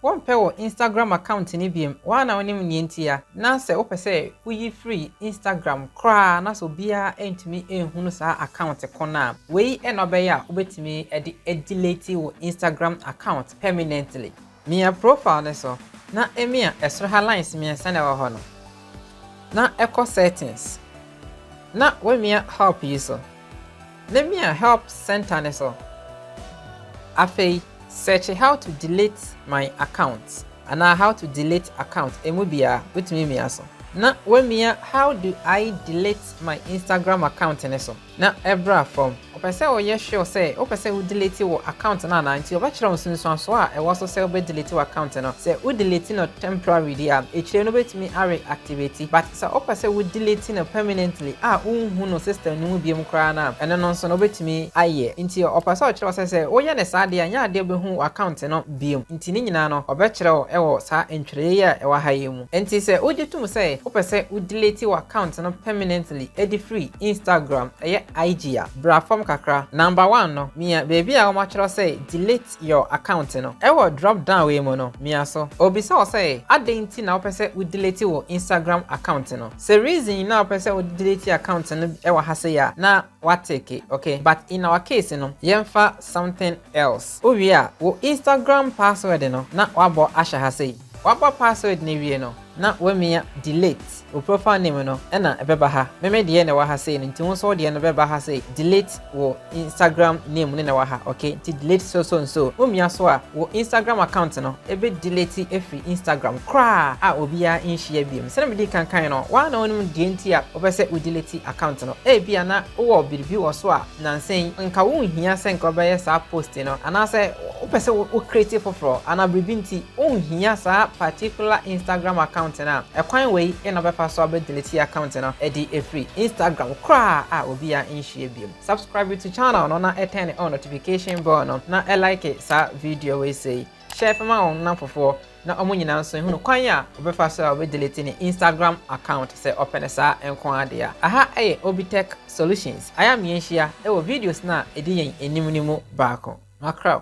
Wɔmpɛ wo Instagram account no biom, woaa na wonim neɛ ntia. Na sɛ wopɛ sɛ woyi firi Instagram koraa na sɛ obiara ntumi nhunu saa account ko no a, wei na wobɛyɛ a wobɛtumi de adelete wo Instagram account permanently. Mia profile no so na mia ɛsoro ha lines mmiɛnsa na ɛwɔ hɔ no, na kɔ settings na wamia help yi so. Lemia help centre no so. Afei search how to delete my account anaa how to delete account emu biara wotumi mia so na wamia how do I delete my Instagram account no so na ɛbra fam. Ɔpɛ sɛ ɔyɛ sure sɛ wopɛ sɛ wo delete wo account no anaa nti ɔbɛkyerɛ wo nsunsuansoɔ a ɛwɔ so sɛ wobɛ delete w'account no. Sɛ wo delete no temporary deɛ a akyire no wobɛtumi a re-activate but Sɛ wopɛ sɛ wo delete no permanently a wonhu no system no mu biom koraa no a, ɛno no nso no wobɛtumi ayɛ. Nti ɔpɛ sɛ ɔkyerɛ wo sɛ sɛ woyɛ no saa deɛ a nyɛ adeɛ a wobɛhu wo account no biom. Nti ne nyinaa no ɔbɛkyerɛ wo wɔ saa ntwerɛeɛ yi a ɛwɔ ha yi mu. Nti sɛ wogye tom sɛ wopɛ sɛ wo delete wo account no permanently de firi Instagram, ɛyɛ IG a, bra fam kakra. Number one no, mia baabi a wɔatwerɛ sɛ delete. your account no. Ɛwɔ drop down wei mu no, mia so. Obisa wo sɛ, Adɛn nti na wopɛ sɛ wo delete wo Instagram account no? Sɛ reason na wopɛ sɛ wo delete account no wɔ ha sei a, na wa tick, ok? But in our case no, yɛmfa something else. Wowie a, wo Instagram password no na wabɔ ahyɛ ha sei. Wabɔ password no awie no na wamia delete wo profile name no na ɛbɛba ha, me me deɛ na ɛwɔ ha sei no nti wo nso wo deɛ no bɛba ha sei, delete wo Instagram name no na ɛwɔ ha ok nti delete so so nso wo mia so a wo Instagram account no bɛ delete afiri Instagram koraa a obiara nhyia biom, sɛdeɛ medi kan kaeɛ no wo ara na wonim deɛ nti a wopɛ sɛ wo delete account no, ebia na wowɔ biribi wɔ so a Nnansa yi, nka wunhia sɛ nka wobɛyɛ saa post no, anaasɛ wopɛ sɛ wo create foforo, anaa biribi nti wunhia saa particular Instagram account no a, ɛkwan wei na wobɛfa so abɛ delete account no de afiri Instagram koraa a obia nhyia bio. Subscribe to channel no na turn on notification bell no na like saa video wei sei. Share fa ma wo nnamfofoɔ na ɔmo nyinaa nso ehunu kwan a ɔbɛfa so a ɔbɛ delete ne Instagram account sɛ ɔpɛ no saa nko ara deɛ a. Aha yɛ Obitech Solutions, ayɛ a meɛnhyia wɔ videos no a edi yɛn anim no mu baako. Makraw!